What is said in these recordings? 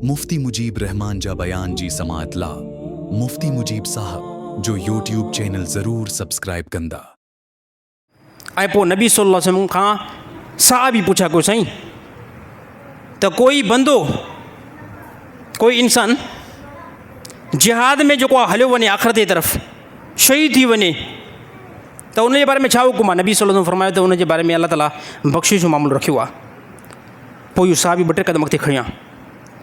مفتي مجيب الرحمان جا بيان جي سماعت لا مفتي مجيب صاحب جو يوٽيوب چينل ضرور سبسڪرائب ڪندا. ۽ پوء نبي صلّي اللّٰه عليه وسلّم کان صحابي پڇيا ڪيو سائين ته ڪوئي بندو ڪوئي انسان جهاد ۾ جيڪو آ هليو وڃي آخرت جي طرف شهيد ٿي وڃي ته ان جي باري ۾ ڇا حڪم آ نبي صلّي اللّٰه عليه وسلّم فرمايو ته ان جي باري ۾ الله تعالٰي بخشش جو معاملو رکيو آ. پوء هو صحابي ٻه ٽي قدم اڳتي کڻيا.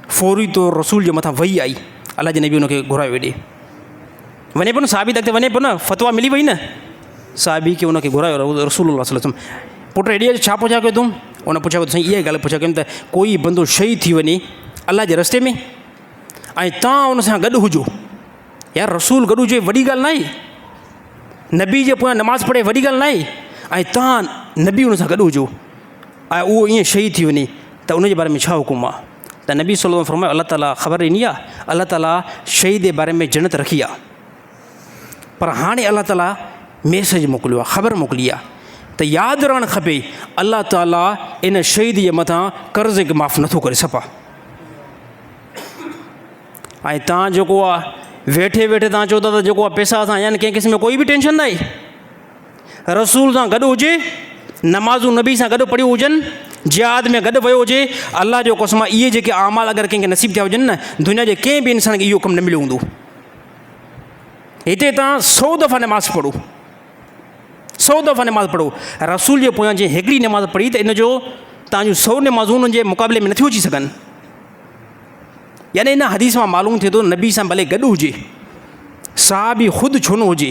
فوري طور رسول جي مٿان وحي آئي. الله جي نبي ان کي گهرايو هيڏي. وڃي پيو نه صحابي ته اڳتي وڃي پيو نه فتويٰ ملي وئي نه. صحابي کي ان کي گهرايو رسول الله صلي الله عليه وسلم پٽ هيڏي اچ ڇا پڇا ڪيو تون؟ ان پڇا ڪيو ته سائين اها ئي ڳالهه پڇا ڪيم ته ڪوئي بندو شهيد ٿي وڃي الله جي رستي ۾ ۽ تان ان سان گڏ هجو. يار رسول گڏ هجي وڏي ڳالهه ناهي. نبي جي پويان نماز پڙهي وڏي ڳالهه ناهي ۽ تان نبي ان سان گڏ هجو. ۽ اهو ائين شهيد ٿي وڃي ته ان جي باري ۾ ڇا حڪم آ؟ ته نبي صلي الله عليه وسلم فرمايو الله تعاليٰ خبر ڏني آ، الله تعاليٰ شهيد جي باري ۾ جنت رکي آ، پر هاڻي الله تعاليٰ ميسيج موڪليو آ، خبر موڪلي آ ته ياد رهڻ کپي الله تعاليٰ ان شهيد جي مٿان قرض کي معاف نٿو ڪري سپا. ۽ تان جيڪو آ ويٺي ويٺي تان چئو ٿا ته جيڪو آ پيسا اسان آيا آهن ڪنهن قسم جو ڪوئي به ٽينشن ناهي. رسول سان گڏ هجي، نمازون نبي سان گڏ پڙهيون هجن، جهاد ۾ گڏ ويو هجي، الله جو قسم اهي جيڪي اعمال اگر ڪنهن کي نصيب ٿيا هجن نه دنيا جي ڪنهن به انسان کي اهو ڪم نه مليو هوندو. هتي توهان سؤ دفعا نماز پڙهو، سؤ دفعا نماز پڙهو، رسول جي پويان جنهن هڪڙي نماز پڙهي ته ان جو توهان جون سؤ نمازون ان جي مقابلي ۾ نٿيون اچي سگهن. يعني ان حديث مان معلوم ٿئي ٿو نبي سان ڀلي گڏ هجي، صحابي خود ڇو نه هجي،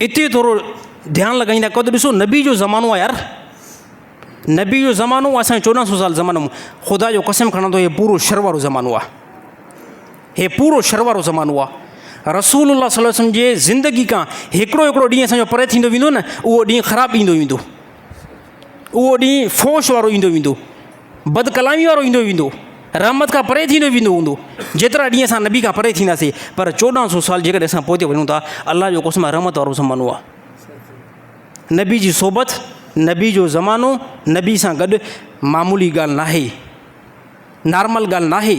اتي ٿورو ڌيان لڳائي نه ڪو ته ڏسو نبي جو زمانو آ يار نبي جو زمانو آ اسان چوڏهن سو سال زمانو خدا جو قسم کڻان ٿو هي پورو شر وارو زمانو آ هي پورو شر وارو زمانو آ رسول الله صلي الله وسلم جي زندگي کان هڪڙو هڪڙو ڏينهن اسان جو پري ٿيندو ويندو نه اهو ڏينهن خراب ڏيندو ويندو اهو ڏينهن فوش وارو ايندو ويندو بد ڪلامي وارو ايندو ويندو رحمت کان پري ٿيندو ويندو هوندو جيترا ڏينهن اسان نبي کان پري ٿينداسين پر چوڏهن سو سال جيڪڏهن اسان پوئتي وڃون ٿا الله جو قسم رحمت وارو زمانو آ نبي جي صحبت نبي جو زمانو نبي سان گڏ معمولي ڳالهه ناهي نارمل ڳالهه ناهي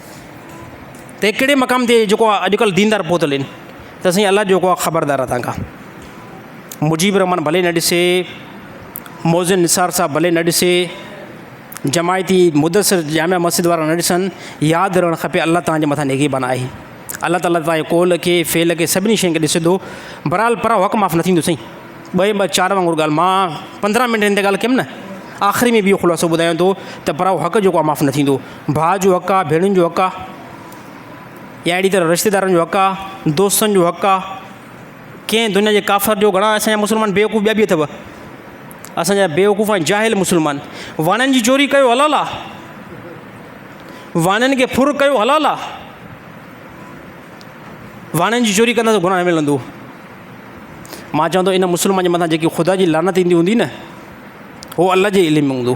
ته ڪهڙي مقام تي جيڪو آ اڄ ڪلهه ديندار پهتل آهن ته سائين الله جيڪو آ خبردار آ تهان کان مجيب الرحمان ڀلي نه ڏسي موزن نثار صاحب ڀلي نه ڏسي جماعتي مدثر جامع مسجد وارا نه ڏسن ياد رهڻ کپي الله تهان جي مٿان نگهبان آهي الله تعالیٰ تهانجي قول کي فعل کي سڀني شين کي ڏسي ٿو برحال پر حق معاف نه ٿيندو سائين ٻئي ٻ چار وانگر ڳالھ ماں پندرهن منٽ هن تي ڳالھ ڪيم نه آخري ۾ به اهو خلاصو ٻڌايان ٿو ته پر حق جيڪو آ معاف نه ٿيندو ڀاء جو حق آ، ڀيڻين جو حق آ يا اهڙي طرح رشتيدارن جو حق آ، دوستن جو حق آ، ڪنهن دنيا جي ڪافر جو گهڻا اسان جا مسلمان بيوقوف ٻيا به اٿو اسان جا بيوقوف ۽ جاهل مسلمان وڻن جي چوري ڪيو حلال آ، وڻن کي ڦر ڪيو حلال آ، وڻن جي چوري ڪنداسون گناهه نه ملندو، مان چوان ٿو ان مسلمان جي مٿان جيڪي خدا جي لعنت ايندي هوندي نه هو الله جي علم ۾ هوندو.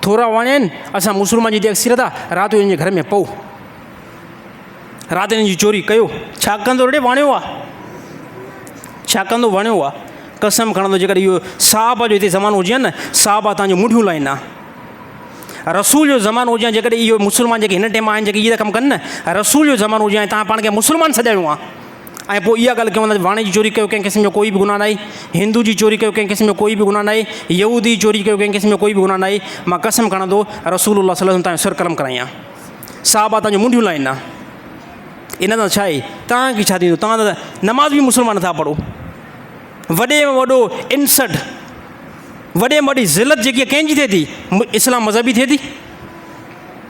ٿورا وڻين اسان مسلمان جي اڪثريت آ رات جو انهن جي گهر ۾ پئو رات انهن جي چوري ڪيو ڇا ڪندو رڙي وڻيو آ ڇا ڪندو وڻيو آ قسم کڻندو جيڪڏهن اهو صاحب جو هتي زمانو هجي نه صاحب آ تنهنجو منڊيون لائين آ رسول جو زمانو هجي جيڪڏهن اهو مسلمان جيڪي هن ٽيم آهن جيڪي اهي ڪم ڪن نه رسول جو زمانو هجي تان پاڻ کي مسلمان سڏايو آ ۽ پوء اها ڳالهه ڪيون ٿا ته واڻي جي چوري ڪيو ڪنهن قسم جو ڪوئي به گناهه ناهي، هندو جي چوري ڪيو ڪنهن قسم جو ڪوئي به گناهه ناهي، يهودي جي چوري ڪيو ڪنهن قسم جو ڪوئي به گناهه ناهي، مان قسم کڻان ٿو رسول الله صلي الله عليه وسلم تان جو سر قلم ڪرائين ها، صحابه تان جون منڍيون لائين ها، ان سان ڇا آهي، توهان کي ڇا ٿيندو، توهان ته نماز به مسلمان نه ٿا پڙهو، وڏي ۾ وڏو انسلٽ، وڏي ۾ وڏي ذلت جيڪي ڪنهن جي ٿئي ٿي، اسلام مذهبي ٿئي ٿي؟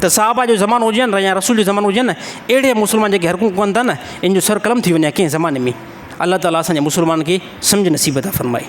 ته صحابه جو زمانو هجن يا رسول جو زمانو هجن اهڙي مسلمان جيڪي حرڪون ڪن ٿا نه ان جو سر قلم ٿي وڃي ڪنهن زماني ۾ الله تعالیٰ اسان جي مسلمان کي سمجھ نصيب تھا فرمائي